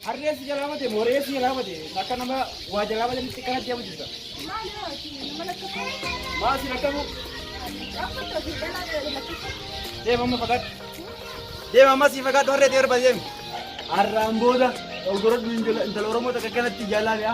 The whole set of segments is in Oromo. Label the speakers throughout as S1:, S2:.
S1: Harree si jalaa bade moree si jalaa bade akka nama waa jalaa bade mitti kanatti yamu jirta. Maal si rakkabu? Deema amma fagaadhu. Deema amma si fagaadhu harree ta'e barbaade deemi. Harraan booda oggorodhu intala Oromoo takka kanatti jaalaa mi'a.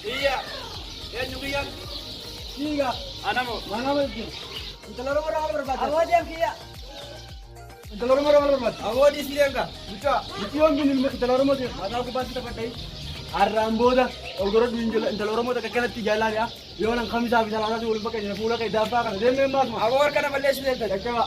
S1: Kiyya. Eenyu kiyyan? Siiga. Anamo. Manama jechuun. Intala Oromoo irraa maal barbaadda? Awoodeen kiyya. Intala Oromoo irraa maal barbaadda? Awoodii si leenga. Mucaa. Mucii yoon bin ilma intala Oromoo ta'e mataa gubbaatti taphadhee. Har'aan booda ogora duun jala intala Oromoo takka kanatti jaalaa dhiyaa. Yoo nan kamisaa fi salaasaa si waliin bakka jira fuula kee daabbaa kana deemee maasuma. Aboo harka na balleessu deemtan. Jajjabaa.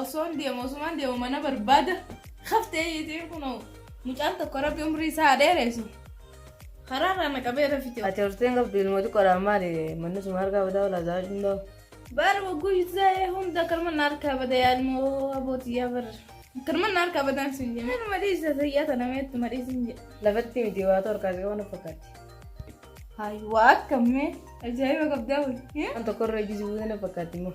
S2: Osoon deemu osumaan deemu mana barbaada haftee yeetiin kunoo mucaan tokko rabbi umrii isaa dheereessu karaa irraa na qabee rafite. Ati horteen qabdu ilmoo
S3: xiqqoodhaan maali manni suma harkaa badaa walaa isaa hundoo. Bar wagguu
S2: yuutuudhaa'ee hunda karma na harkaa bada yaalmoo abootiyyaa bar. Karma na harkaa badaan sin jedhe. Nama madhiisa sayyaa tana meettu madhiisa hin jedhe. Lafatti miti waa ta'u
S3: harkaa qabu na fakkaatti. Hayi
S2: waa akkamee ajaa'iba qabdaa wayii. Waan tokko irra ejjisi
S3: buute na fakkaatti immoo.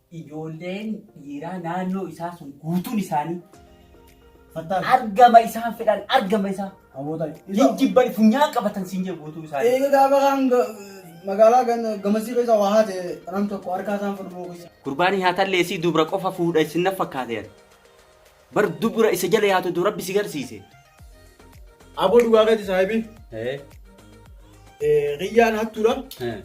S4: Ijoolleen
S1: dhiiraa naannoo isaa sun guutuun isaanii Fattaan.
S4: argama isaan
S1: fedhan argama isaa Hamoota. hin
S4: jibban funyaan
S1: qabatan siin jedhu guutuun isaanii. Eega gaafa kaan ga-
S4: magaalaa gan- gamasii keessa waa haate nam tokko harkaa isaan fudhuu keessa. Gurbaanii haa talleessii
S1: dubra qofa fuudha isin na fakkaateera. Bar dubra isa jala yaatu du rabbi si garsiise.
S4: Aboo dhugaa keeti saahibii. Ee. Eh, Riyyaan hattuudha. Ee.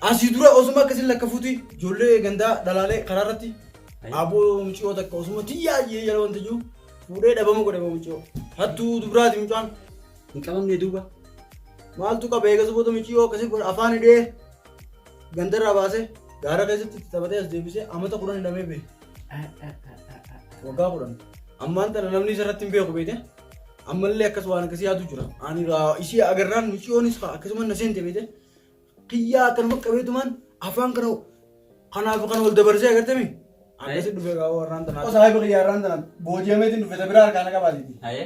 S4: Asii dura osuma akkasiin lakka fuuti ijoollee gandaa dhalaalee karaa irratti Ayi. aboo muciyoo takka osuma tiyyaa jee jala wanta jiru fuudhee dhabama godhe aboo muciyoo. Hattuu dubraati mucaan Hin qabamne
S1: duuba. maaltu
S4: qaba eegas booda muciyoo akkasii godhe afaan hidhee Ganda irraa baasee gaara keessatti itti taphatee as deebisee amata kudhan hidhamee bee. Waggaa kudhan. Ammaan tana namni isa irratti hin beeku beete. Ammallee akkas waan akkasii yaadu jira. Ani raa ishee agarraan muciyoonis kaa akkasuma na seente beete. Kiyyaa akkanuma qabeetumaan afaan kana kanaaf kan wal dabarsee agartami. Akkasii dhufee kaa warraan tanaa. Osoo haayiba kiyyaa irraan tanaa booji'ameetiin dhufe isa biraa harkaana qabaatiti. Hayee.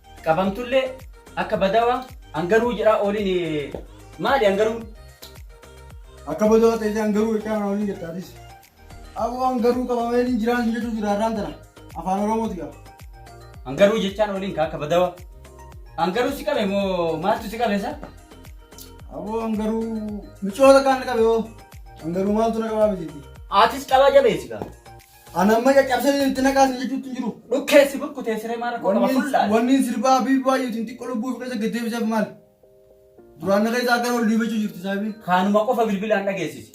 S1: Qabamtullee akka badawa angaruu jedhaa ooliin maali angaruun?
S4: Akka badoo ta'e isaan garuu jechaa kana waliin jettaatis. Aboo an garuu qabamee hin jiraan hin jechuu jira irraan tana. Afaan Oromooti qaba. Angaruu
S1: jechaan ooliin ka akka badawa. Angaruu si qabe moo maaltu si qabe sa? Aboo
S4: an garuu micoota kaan qabe hoo. An garuu maaltu na qabaa miti. Atis qabaa jabeessi
S1: gaa. Ana amma caccabsee
S4: jedhu itti naqaa sin jechuutti hin jiru. Dhukkee si burkutee siree
S1: maa rakkoo qaba fullaale. Wanni sirbaa habiibi
S4: baay'eetiin xiqqoo lubbuu fi keessa gaddeebiseef maal? Duraan na keessa akkan ol dhiibachuu jirti saahibiin. Kaanuma qofa bilbilaan
S1: dhageessisi.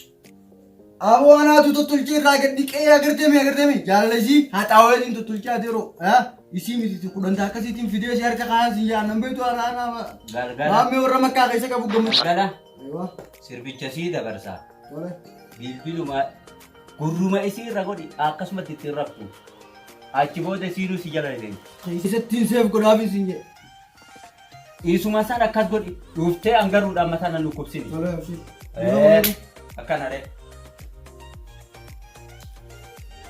S1: Aboo
S4: anaatu tottolchee irraa gad dhiqee agartemi agartemi jaalala isii haxaaweetiin tottolchaa deeroo isii miti kudhanta akkasiitiin fidee si harka kaayaan sin jaan nan beektu haadha haadha Galgala. maammee warra makkaa keessa qabu gammachuu. Galgala. Ewa.
S1: Sirbicha sii dabarsa. Tole. Bilbiluma gurruma isii irra godhi akkasumatti ittiin raftu. Achi booda isiinuu si jala deemti. Keessattiin seef
S4: godhaaf isin jedhe.
S1: Isuma san akkas godhi dhuftee angaruudhaan mataa nan dhukkubsini. Tole abshii. Eh, Akkana ree.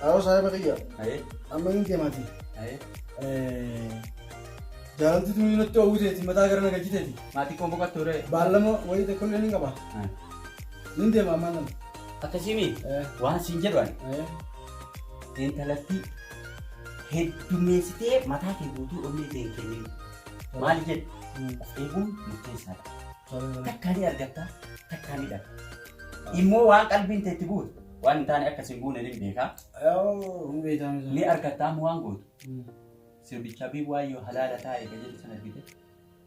S4: Haaroo saahiba kiyya. Ayee, Amma inni
S1: deemaati. ayee.
S4: Jaalalti tuni natti oowwiteeti mataa gara na galchiteeti. Maatii koo boqattuu ree.
S1: Baallama wayii tokkollee
S4: ni qaba. Nin deema ammaan tana. Akkasiimi Eh.
S1: waan siin jedhu ani Eh. intalattii heddummeessitee mataa kee guutuu onnee ta'e hin kennin. Maal jedhu Hmm. of eeguun murteessaadha. Tole, tole. Takkaa ni argatta takkaa ni dhabda. Immoo waan qalbiin ta'e itti guutu waan hin taane akkas hin guune ni beekaa. Yoo, hin
S4: beektaame sana. Ni argatta ammoo waan
S1: gootu. Hmm. Sirbicha bii waayyoo halaala taa'e kan jedhu sana argite.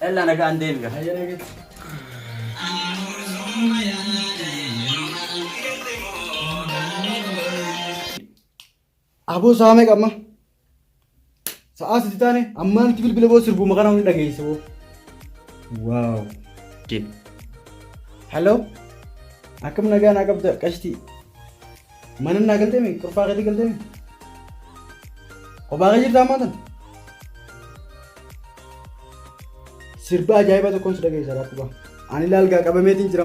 S1: Ella nagaan deebiga.
S4: Hayyee nageetti. Aboo saamee qabma. Sa'aa sitti taane ammaa nuti bilbila boo sirbuu maqaan hundi dhageesse boo. Waaw. Hello. Akkam nagaa naa qabda qashtii. Mana naa galtee mi? Kurfaa keetii galtee mi? Kophaa kee jirtaa ammaa tana? Sirba ajaa'ibaa tokkoon si dhageessa rakkoo qaba. Ani laalgaa qabameetiin jira.